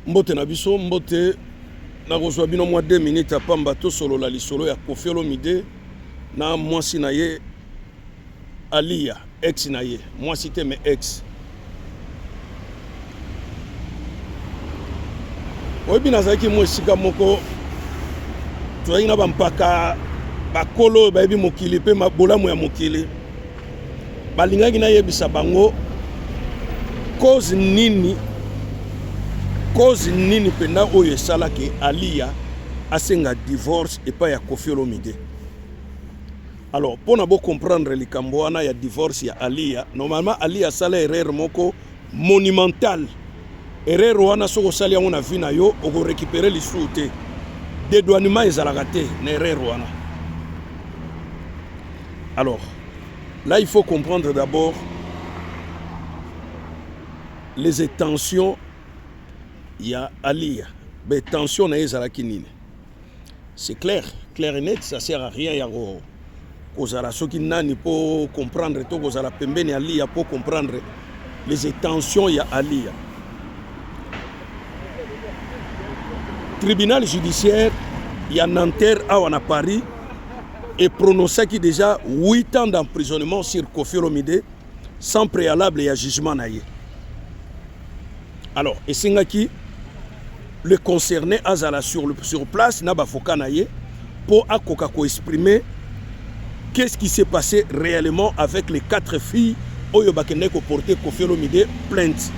mbote na biso mbote nakozwa bino mwa 2 minutes ya pamba tosolola lisolo ya kofi olomide na mwasi na ye aliya ex na ye mwasi te me ex oyebi nazalaki mwa esika moko tozalaki na bampaka bakolo oyo bayebi mokili mpe bolamu ya mokili balingaki nayebisa bango cause nini cause nini mpenza oyo esalaki aliya asenga divorce epai ya kofi olomide alors mpo na bocomprendre likambo wana ya divorce ya aliya normalement aliya asala erreur moko monumental erreur wana soki osali yango na vie na yo okorecupere lisusu te dedouanement ezalaka te na erreur wana alors là il faut comprendre d'abord les étensions ya aliya batension na ye ezalaki nini C'est clair, clair et net, ça sert à rien ya ko kozala soki nani po comprendre to kozala pembeni ya Aliya po comprendre les intentions ya Aliya. Tribunal judiciaire ya Nanterre awa na Paris et prononcaki déjà 8 ans d'emprisonnement sur Kofi Olomide sans préalable ya jugement na ye. Alors esengaki le concerné azala sur, le, sur place na bavoka na ye mpo akoka koexprime qu'est-ce qui s'est passé réellement avec les quatre filles oyo bakendaki koporte Koffi Olomide plainte.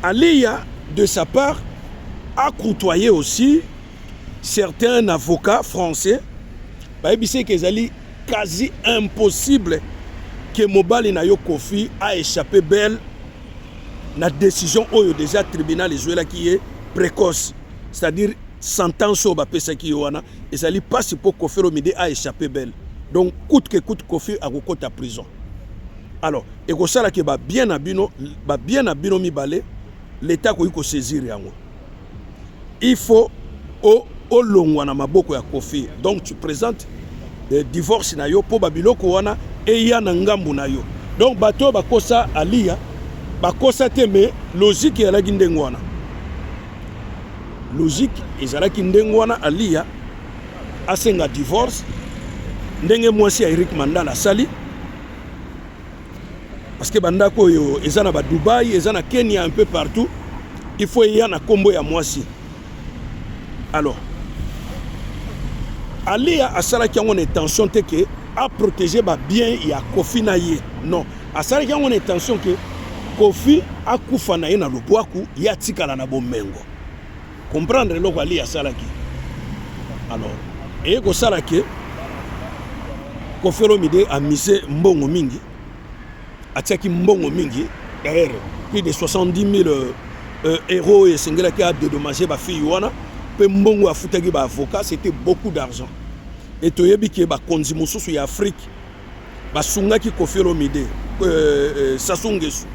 Aliya de sa part a côtoyé aussi certains avocats français bayebisaki ezali quasi impossible que mobali na yo Koffi a échappé belle na decision oyo deja tribunal ezwelaki ye précoce c'est-à-dire sentence oyo bapesaki ye wana ezali mpasi mpo kofi olomide a échappe belle donc coute que coute kofi akokota prison alors ekosala ke babien na bino babien na bino mibale leta akoki kosaisir yango il faut o olongwa na maboko ya Koffi donc tu presentes eh, divorce na yo mpo babiloko wana eya na ngambu na yo donc bato oyo bakosa aliya bakosa te me logike ezalaki ndenge wana logike ezalaki ndenge wana aliya asenga divorce ndenge mwasi ya eric mandala asali parce que bandako oyo eza na ba Dubaï eza na Kenya un peu partout il faut eya na kombo ya mwasi alors Alia asalaki yango na intention te ke a protéger ba bien ya Kofi na ye non asalaki yango na intention ke Kofi akufa na ye na lobwaku ye atikala na bomengo comprendre eloko ali asalaki alors eye kosala ke kofelomide amise mbongo mingi atiaki mbongo mingi d'ailleurs plus de 70 000 euh, euh, euro oyo esengelaki adedommage bafille wana mpe mbongo afutaki baavocat c'était beaucoup d'argent e toyebi ke bakonzi mosusu ya afrike basungaki kofi olomide euh, euh, sasungesu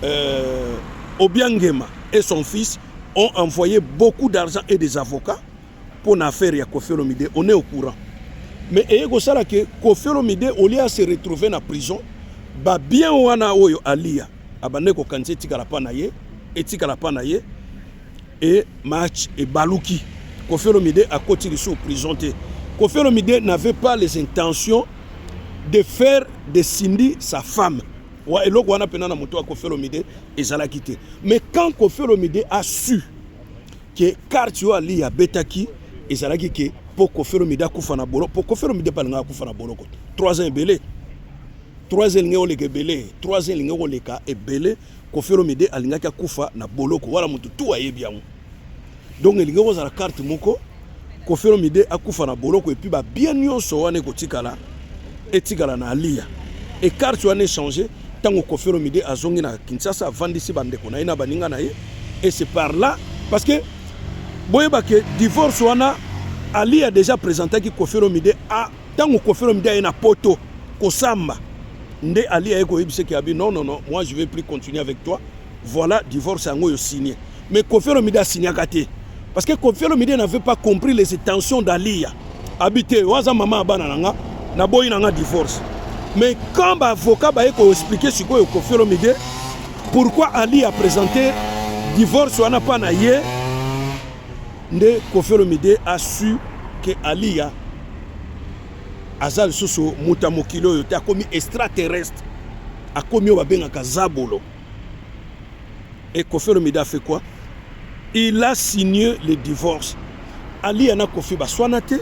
euh, obiangema et son fils ont envoyé beaucoup d'argent et des avocats pour na affaire ya Koffi Olomide. On est au courant. Mais eye kosala que Koffi Olomide au lieu à se retrouver na prison, ba bien wana oyo alia abande kokanisa etikala pa na ye etikala pa na ye e match ebaluki Koffi Olomide akoti lisusu prison te. Koffi Olomide n'avait pas les intentions de faire de Cindy sa femme. wa eloko wana pena na moto ya Koffi Olomide ezalaki te mais quand Koffi Olomide a su que carte oyo Ali abetaki ezalaki ke mpo Koffi Olomide akufa na boloko mpo Koffi Olomide mpe alingaki akufa na boloko 3 ans ebele 3 ans elingaki koleka ebele 3 ans elingaki koleka ebele Koffi Olomide alingaki akufa na boloko wana moto tu ayebi yango donc elingi kozala carte moko Koffi Olomide akufa na boloko epuis babien nyonso wana ekotikala etikala na aliya e carte wana echange ntango Koffi Olomide azongi na Kinshasa avandisi bandeko na ye na baninga na ye et c'est par là parce que boyeba ke divorce wana aliya déjà présentaki Koffi Olomide a ntango Koffi Olomide aye na poto kosamba nde aliya ye koyebisa ke abi non non non moi je vais plus continuer avec toi Voilà divorce yango yo signe. Mais Koffi Olomide a signaka te. Parce que Koffi Olomide n'avait pas compris les intentions d'Aliya. Habité, waza maman abana nanga, na boyi nanga divorce. Mais quand ba avocat ba eko expliquer sikoyo Koffi Olomide pourquoi Ali a présenté divorce wana pa na ye nde Koffi Olomide a su que Aliya aza lisusu moto ya mokili oyo te akomi extraterrestre akomi oyo babengaka zabolo et Koffi Olomide a fait quoi il a signé le divorce aliya na Koffi baswana te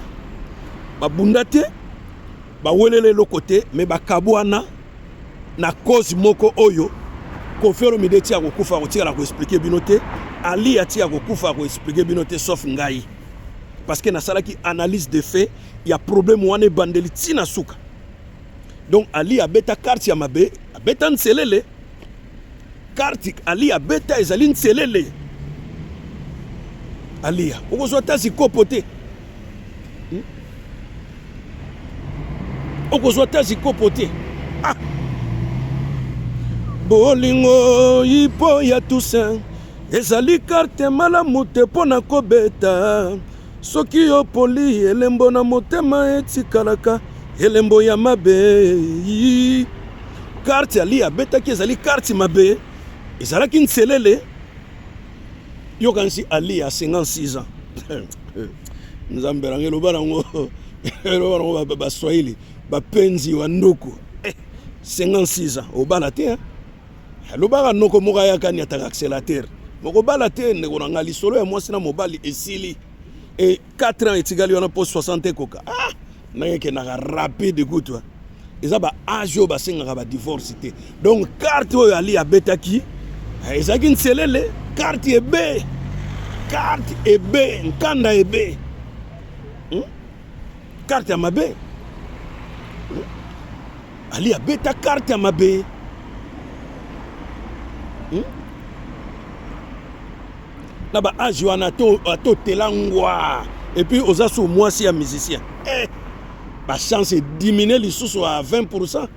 babunda te bawelele eloko te me bakabwana na cause moko oyo Koffi Olomide ti akokufa akotikala koexplike bino te aliya ti akokufa akoexplike bino te sauf ngai parce que nasalaki analyse de fait ya problème wana ebandeli ntina suka Donc Ali abeta carte ya mabe, abeta nselele. Carte Ali abeta ezali nselele. Aliya, okozwa ata zikopo te. Hmm? Okozwa ata zikopo te. Ah! Bolingo ipo ya Toussaint ezali carte malamu te mpo na kobeta. Soki yo poli elembo na motema etikalaka elembo ya mabe karte ali abetaki ezali karte mabe ezalaki nselele yokanisi ali ya 56 ans nzambe nange eloba nango eloba nango baswahili bapenzi wa nduku 56 eh, ans obala te hein? alobaka noko moko ayaka niataka accélérateur bokobala te ndeko na ngai lisolo ya mwasi na mobali esili e 4 ans etikali wana mpo 60 ekoka ah, ndenge ekendaka rapide kutu eh. eza ba age oyo basengaka ba divorce te donc karte oyo ali abetaki eh, ezalaki nselele karte ebe karte ebe nkanda ebe hmm? Carte ya mabe. Ali abeta carte ya mabe. Hmm? Na ba age wana to to telangwa et puis oza sous mwasi ya musicien. Eh, ba chance est diminuer lisusu à 20%.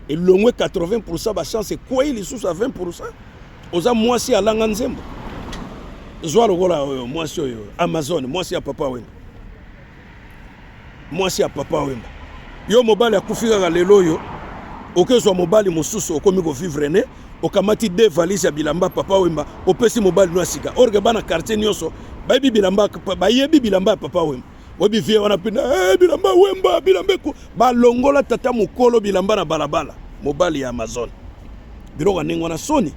elongwe 80 ba chance ekwei lisusu ya 20 Oza mwasi alanga nzembo. Zwa lokola oyo mwasi oyo Amazon, mwasi ya papa Wemba. Mwasi ya papa Wemba. Yo mobali akufi kaka lelo oyo okezwa mobali mosusu okomi kovivre ne okamati de valise ya bilamba papa wemba opesi mobali no ya sika orke bana quartier nyonso bayebi bilamba ya papa wemba oyebi vie wana mpe hey, eh, bilamba wemba bilamba eko balongola tata mokolo bilamba na balabala mobali ya amazone biloko ya ndenge wana soni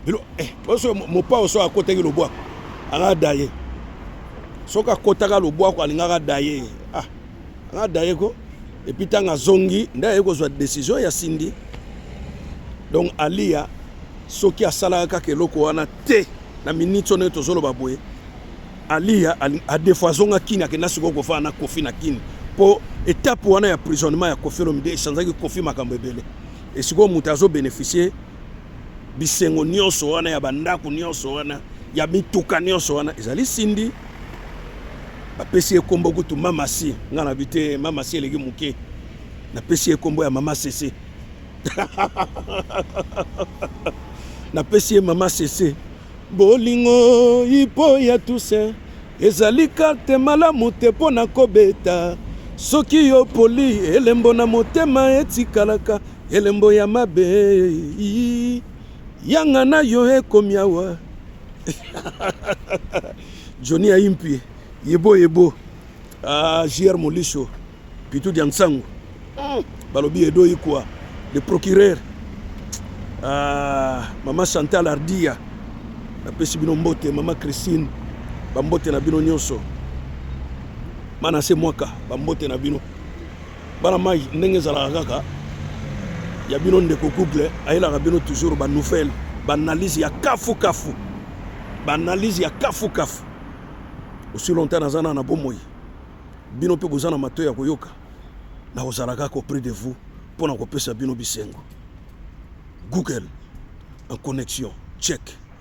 bilo eh, oso mopao so akotaki lobwako anga daye soki akotaka lobwako alingaka daye ah, anga daye ko epuis ntango azongi nde aye kozwa desizio ya sindi donc aliya soki asalaka kaka eloko wana te na miniti oyo ndenge tozoloba boye Aliya adefo azonga Kin akenda sikoyo kofana na Kofi na Kin mpo etape wana ya prisonnement ya Kofi Olomide echanzaki Kofi makambo ebele esikoyo moto azo beneficie bisengo nyonso wana ya bandako nyonso wana ya mituka nyonso wana ezali Cindy bapesi ye nkombo kutu mamasi ngai nabi te mamasi eleki moke napesi ye nkombo ya mama sese napesi ye mama sese Bolingo ipo ya Toussaint ezali karte malamu te mpo na kobeta. Soki yo poli, elembo na motema etikalaka elembo ya mabe. Yanga na yo ekomi awa. Johnny Ayimpie, yebo yebo, ah, JR Molisho. Pitu Diansangu hmm. balobi Edo Ikwa le procureur ah, mama Chantal Ardia napesi bino mbote mama Christine bambote na bino nyonso bana se mwaka bambote na bino bana mai ndenge ezalaka kaka ya bino ndeko couple ayelaka bino toujours banouvelle baanalyse ya kafukafu baanalyse ya kafukafu osi longtemps naza na na bomoi bino mpe boza na matoi ya koyoka nakozala kaka auprès de vous mpo na kopesa bino bisengo google en connexion check